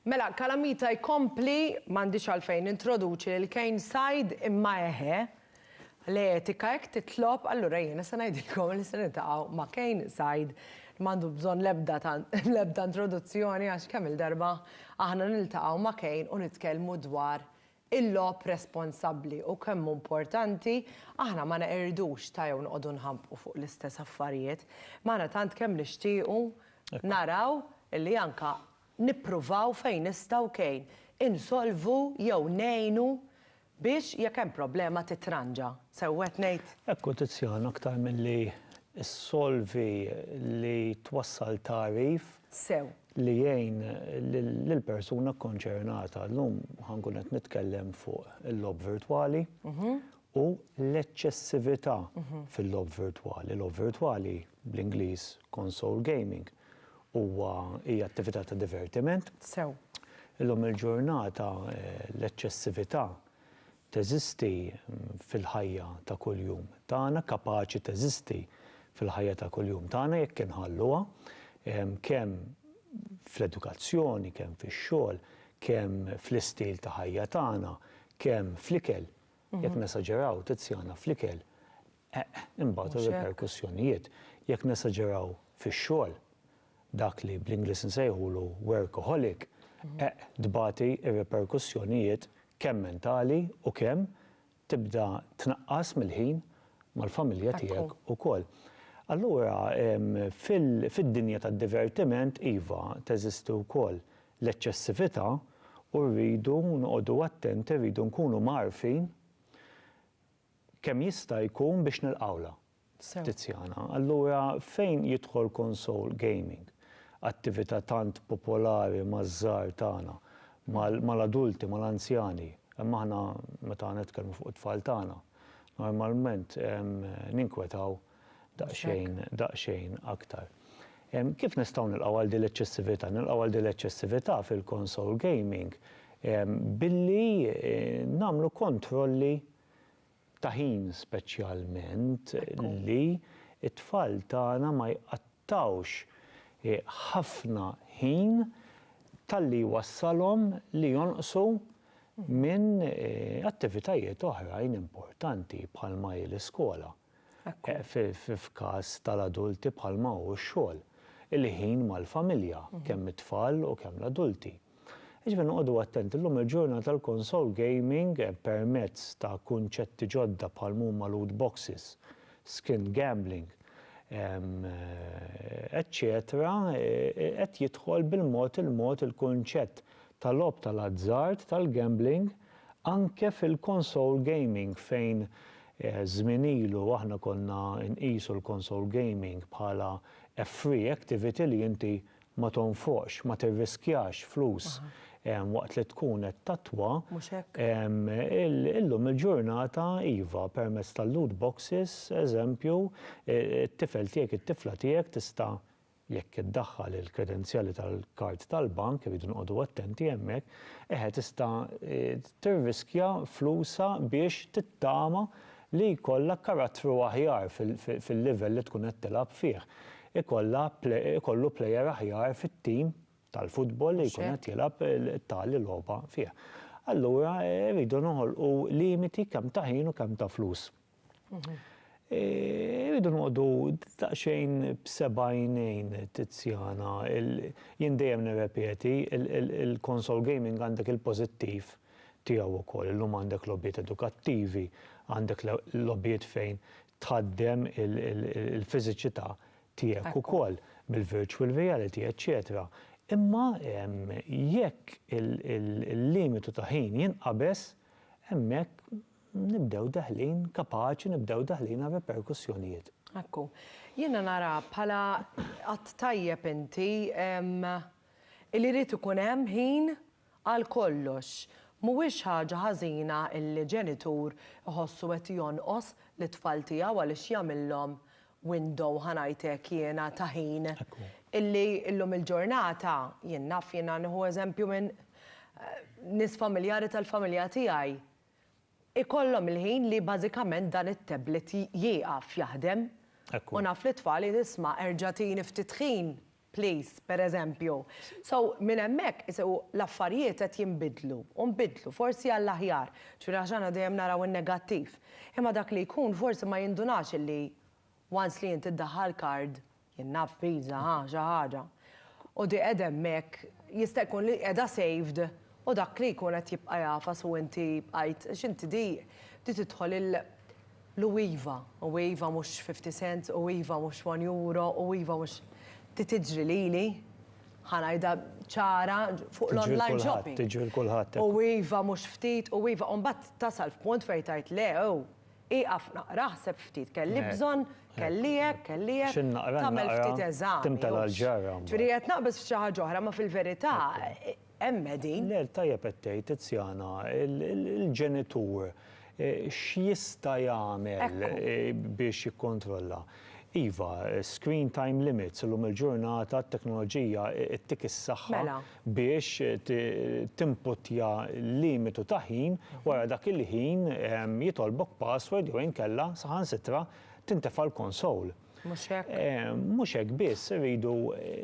Mela, Calamita jkompli, M'għandix għalfejn nintroduċi lil Kane Said, imma eħe, l-etika hekk titlob, allura jiena se ngħidilkom li se niltaqgħu ma' Kane Said, li m'għandu bżonn l-ebda introduzzjoni għax kemm-il darba aħna niltaqgħu ma' Kane u nitkellmu dwar il-logħob responsabbli u kemm hu importanti aħna ma neqirdux ta' jew noqogħdu nħabbqu fuq l-istess affarijiet. Imma aħna tant kemm nixtiequ naraw li anke nippruvaw fejn nistgħu kejn insolvu jew ngħinu biex jekk hemm problema titranġa. Sew qed ngħid? Hekk hu Tiziano aktar milli ssolvi li twassal tagħrif sew. Li jgħin lill-persuna kkonċernata. Llum ħa nkun qed nitkellem fuq il-logħob virtwali u l-eċċessività fil-logħob virtwali. Logħob virtwali, bl-Ingliż console gaming, huwa, hija attività ta' divertiment. Sew. Illum il-ġurnata l-eċċessività teżisti fil-ħajja ta' kuljum tagħna, kapaċi teżisti fil-ħajja ta' kuljum tagħna jekk inħalluha, kemm fl-edukazzjoni, kemm fix-xogħol, kemm fl-istil ta' ħajja tagħna, kemm fl-ikel, jekk nesaġeraw, Tiziana, fl-ikel, imbagħad ir-riperkussjonijiet, jekk nesaġeraw fix-xogħol, dak li bl-Ingliż insejħulu workaholic, eq tbati r-riperkussjonijiet kemm mentali u kemm tibda tnaqqas mill-ħin mal-familja tiegħek ukoll. Allura fid-dinja tad-divertiment, iva, teżisti wkoll l-eċċessività u rridu noqogħdu attenti, rridu nkunu mgħarrfin kemm jista' jkun biex nilqgħulha. Sew. Tiziana, Allura fejn jidħol console gaming? Attività tant popolari maż-żgħar tagħna, mal mal-adulti, mal-anzjani. Imma aħna meta nitkellmu fuq it-tfal tagħna, normalment ninkwetaw daqsxejn, daqsxejn aktar. Kif nistgħu nilqgħu għal din l-eċċessività? Nilqgħu għal din l-eċċessività fil-console gaming billi nagħmlu kontrolli ta' ħin speċjalment li t-tfal tagħna ma jqattgħux ħafna ħin talli jwassalhom li jonqsu minn attivitajiet oħrajn importanti bħalma hi l-iskola. f'każ tal-adulti bħalma hu x-xogħol, il-ħin mal-familja, kemm it-tfal u kemm l-adulti. Jiġifieri noqogħdu attenti, llum il-ġurnata l-konsol gaming permezz ta' kunċetti ġodda bħal m'huma loot boxes, skin gambling, eċċetera qed jidħol bil-mod il-mod il-kunċett ta' logħob tal-azzard, tal-gambling, Anke fil-console gaming fejn żmien ilu aħna konna nqisu l-console gaming bħala a free activity li inti ma tonfoqx, ma tirriskjax flus waqt li tkun qed tattwa, illum il-ġurnata iva, permezz tal-loot boxes, eżempju, it-tifel tiegħek, it-tifla tiegħek tista' Jekk iddaħħal il-kredenzjali tal-kard tal-bank, irridu noqogħdu attenti hemmhekk, eħe tista' tirriskja flusha biex tittama li jkollha karattru aħjar fil-livell li tkun qed tilgħab fih. Ikollha, ikollu plejer aħjar fit-tim tal-futbol li jkun qed jilgħab tali logħba fih. Allura rridu noħolqu limiti kemm ta' ħin u kemm ta' flus. Irridu noqogħdu daqsxejn b'seba' għajnejn Tiziana. Jien dejjem nirrepeti, il-konsol gaming għandek il-pożittiv tiegħu wkoll. Illum għandek logħbiet edukattivi, għandek logħbiet fejn tħaddem il-fiżiċità tiegħek ukoll bil-virtual reality, eċċetera. Imma jekk il-limitu ta' ħin jinqabeż, hemmhekk nibdew deħlin, kapaċi nibdew deħlin għal riperkussjonijiet. Ekku. Jiena nara bħala att tajjeb inti li jrid ikun hemm ħin għal kollox. Mhuwiex ħaġa ħażina li ġenitur iħossu qed jonqos lit-tfal tiegħu għaliex jagħmilhom window, ħa ngħid hekk jiena, ta' ħin. Illi llum il-ġurnata, jien naf jiena nieħu eżempju minn nies familjari tal-familja tiegħi, ikollhom il-ħin li bażikament dan it-tablet jieqaf jaħdem. U naf li t-tfal jgħid isma' erġa' tini ftit ħin please, pereżempju. So, minn hemmhekk iseħħu l-affarijiet qed jinbidlu u nbidlu, forsi għall-aħjar, ġifieri għax aħna dejjem naraw in-negattiv. Imma dak li jkun forsi ma jindunax illi Once li inti ddaħħal card, jien naf Visa, ha, xi ħaġa, u di qiegħda hemmhekk, jista' jkun li qiegħda saved u dak li jkun qed jibqa' jagħfas u inti bqajt, għax inti di, di tidħol il, l-u iva, u iva mhux fifty cents, u iva mhux one euro, u iva mhux, di tiġri lili, ħa ngħidha ċara, fuq l-online shopping. Tiġri l-kulħadd, tiġri l-kulħadd. U iva mhux ftit, u iva, u mbagħad tasal f'punt fejn tgħid le, ow! Ieqaf naqra, ħseb ftit, kelli bżonn, kelli hekk, kelli hekk. X'in naqra, in naqra, timtela l-ġarra mbagħad. Ġifieri qed naqbeż f'xi ħaġa oħra, imma fil-verità hemm qegħdin. Le, tajjeb qed tgħid, Tiziana, il-ġenitur x'jista' jagħmel biex jikkontrolla? Iva, screen time limits, illum il-ġurnata t-teknoloġija ttik is-saħħa. biex timputtja limitu ta' ħin, wara dak il-ħin jitolbok password jew inkella saħansitra tintefa' l-konsole. Mhux hekk? Mhux hekk biss, irridu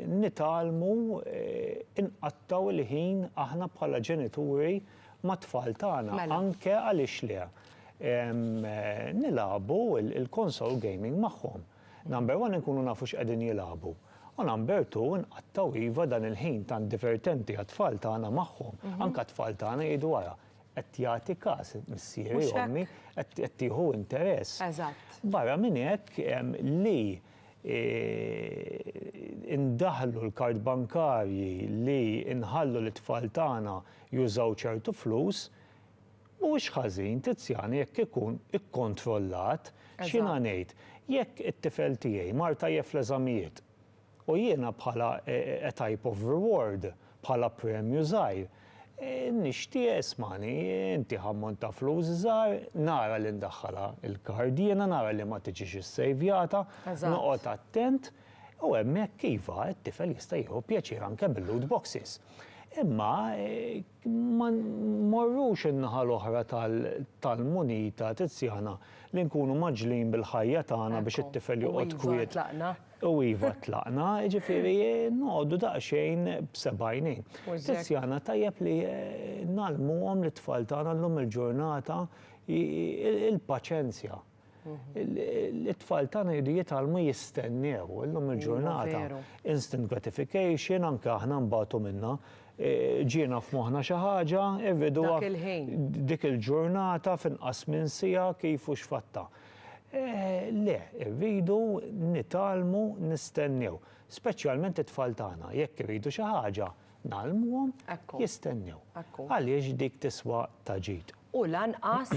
nitgħallmu nqattgħu l-ħin aħna bħala ġenituri mat-tfal tagħna anke għaliex le nilagħbu l-konsole gaming magħhom. Number one inkunu nafu x'qegħdin jilagħbu u number two inqattgħu iva dan il-ħin tant divertenti għat-tfal tagħna magħhom, anke għat-tfal tagħna jgħidu ara qed jagħti każ missieri jew ommi qed tieħu interess. Barra minn hekk li indaħħlu l-kard bankarji, li nħallu lit-tfal tagħna jużaw ċertu flus, Mhuwiex ħażin, Tiziana, jekk ikun ikkontrollat. X'jiena ngħid? Jekk it-tifel tiegħi mar tajjeb fl-eżamijiet u jiena bħala a type of reward, bħala premju żgħir, nixtieq, ismagħni, ntih ammont ta' flus żgħar, nara li ndaħħalha l-kard jiena, nara li ma tiġix issejvjata, noqgħod attent, u hemmhekk, iva, it-tifel jista' jieħu pjaċir anke mil-loot boxes. Imma, Ma mmorrux in-naħa l-oħra tal-munita tizzjana li nkunu mgħaġġlin bil-ħajja tagħna biex it-tifel joqgħod kwiet u iva tlaqna, jiġifieri noqogħdu daqsxejn b'seb'għajnejn. Tizzjana tajjeb li ngħallmuhom lit-tfal tagħna llum il-ġurnata il-paċenzja. It-tfal tagħna jridu jitgħallmu jistennew illum il-ġurnata. Instant gratification, anke aħna nbatu minnha. E, ġiena f'moħħna xi ħaġa, irridu dik il-ġurnata finqas minn sija kif u x'fatta. E, le, irridu nitgħallmu nistennew, speċjalment it-tfal tagħna, jekk irridu xi ħaġa nagħlmuhom jistennew. Għaliex dik tiswa ta' ġid. U lanqas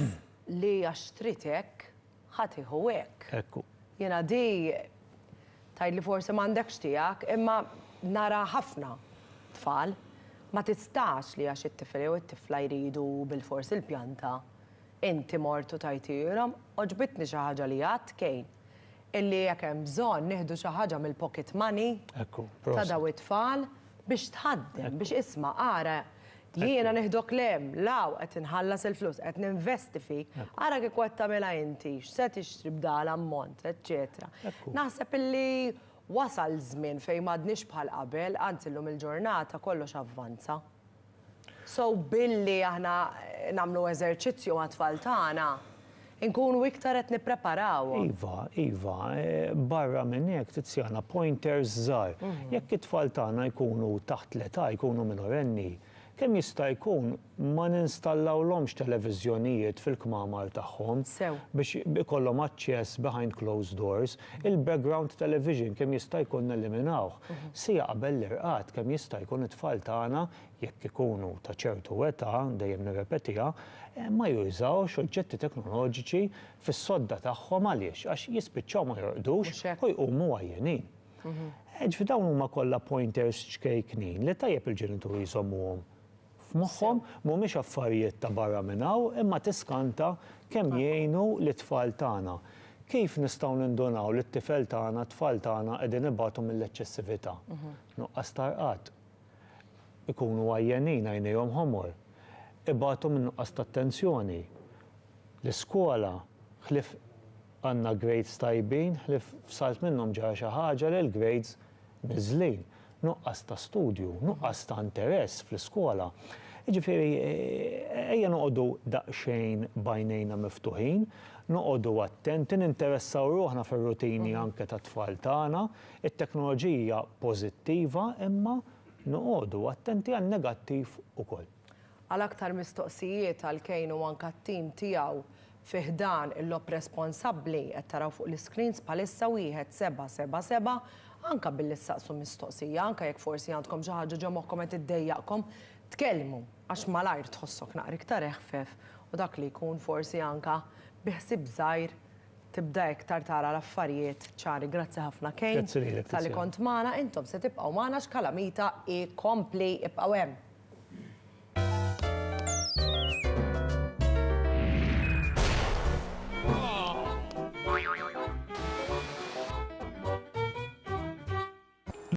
Li għax trid hekk, ħa tieħu hekk. Hekk hu. Jiena di, tgħid li forsi m'għandekx tiegħek, imma nara ħafna tfal, ma tistax li għax it-tifel jew it-tifla jridu bilfors il-pjanta, inti mort u tajthielhom. Għoġbitni xi ħaġa li għidt Kane, illi jekk hemm bżonn nieħdu xi ħaġa mill-pocket money ta' dawn it-tfal biex tħaddem, biex isma' ara Jiena nieħdok 'l hemm, 'l hawn, qed inħallas il-flus, qed ninvesti fik, ara kieku qed tagħmilha inti, x'se tixtri b'dan l-ammont, eċċetera. Naħseb illi wasal żmien fejn m'għadniex bħal qabel, anzi llum il-ġurnata kollox avvanza. So billi aħna nagħmlu eżerċizzju mat-tfal tagħna, Inkunu iktar qed nippreparawhom. Iva, iva. Barra minn hekk, Tiziana, pointers żgħar. Jekk it-tfal tagħna jkunu taħt l-età, jkunu minorenni, kemm jista' jkun ma ninstallawlhomx televiżjonijiet fil-kmamar tagħhom. Sew. Biex ikollhom aċċess behind closed doors. Il-background television kemm jista' jkun neliminawh. Siegħa qabel l-irqad kemm jista' jkun it-tfal tagħna jekk ikunu ta' ċertu età, dejjem nirrepetiha, ma jużawx oġġetti teknoloġiċi fis-sodda tagħhom għaliex? Għax jispiċċaw ma jorqdux u jqumu għajjenin. Ġifieri dawn huma kollha pointers ċkejknin li tajjeb il-ġenituri jżommuhom f'moħħhom, mhumiex affarijiet ta' barra minn hawn imma tiskanta kemm jgħinu lit-tfal tagħna. Kif nistgħu nindunaw li t-tifel tagħna, t-tfal tagħna qegħdin ibatu mill-eċċessività? Nuqqas ta' rqad. ikunu għajjenin, għajnejhom ħomor, ibatu minn nuqqas ta' attenzjoni. L-iskola, ħlief għandna grades tajbin, ħlief f'salt minnhom ġara xi ħaġa li l-grades niżlin. Nuqqas ta' studju, nuqqas ta' interess fl-iskola. Jiġifieri ejja noqogħdu daqsxejn b'għajnejna miftuħin, noqogħdu attenti, ninteressaw ruħna fir-rutini anke tat-tfal tagħna. It-teknoloġija pożittiva imma noqogħdu attenti għan-negattiv ukoll. Għal aktar mistoqsijiet għal Kane u anke t-tim tiegħu fi ħdan il-logħob responsabbli, qed taraw fuq l-iscreens bħalissa wieħed seba' seba' seba', anke billi ssaqsu mistoqsija, anke jekk forsi għandkom xi ħaġa ġo moħħkom qed iddejjaqkom, tkellmu għax malajr tħossok naqra iktar eħfef u dak li jkun forsi anke bi ħsieb żgħir, Tibda iktar tara l-affarijiet ċari. Grazzi ħafna Kane. Grazzi lilek Tiziana. Talli kont magħna, intom se tibqgħu magħna għax Kalamita jkompli. Ibqgħu hemm.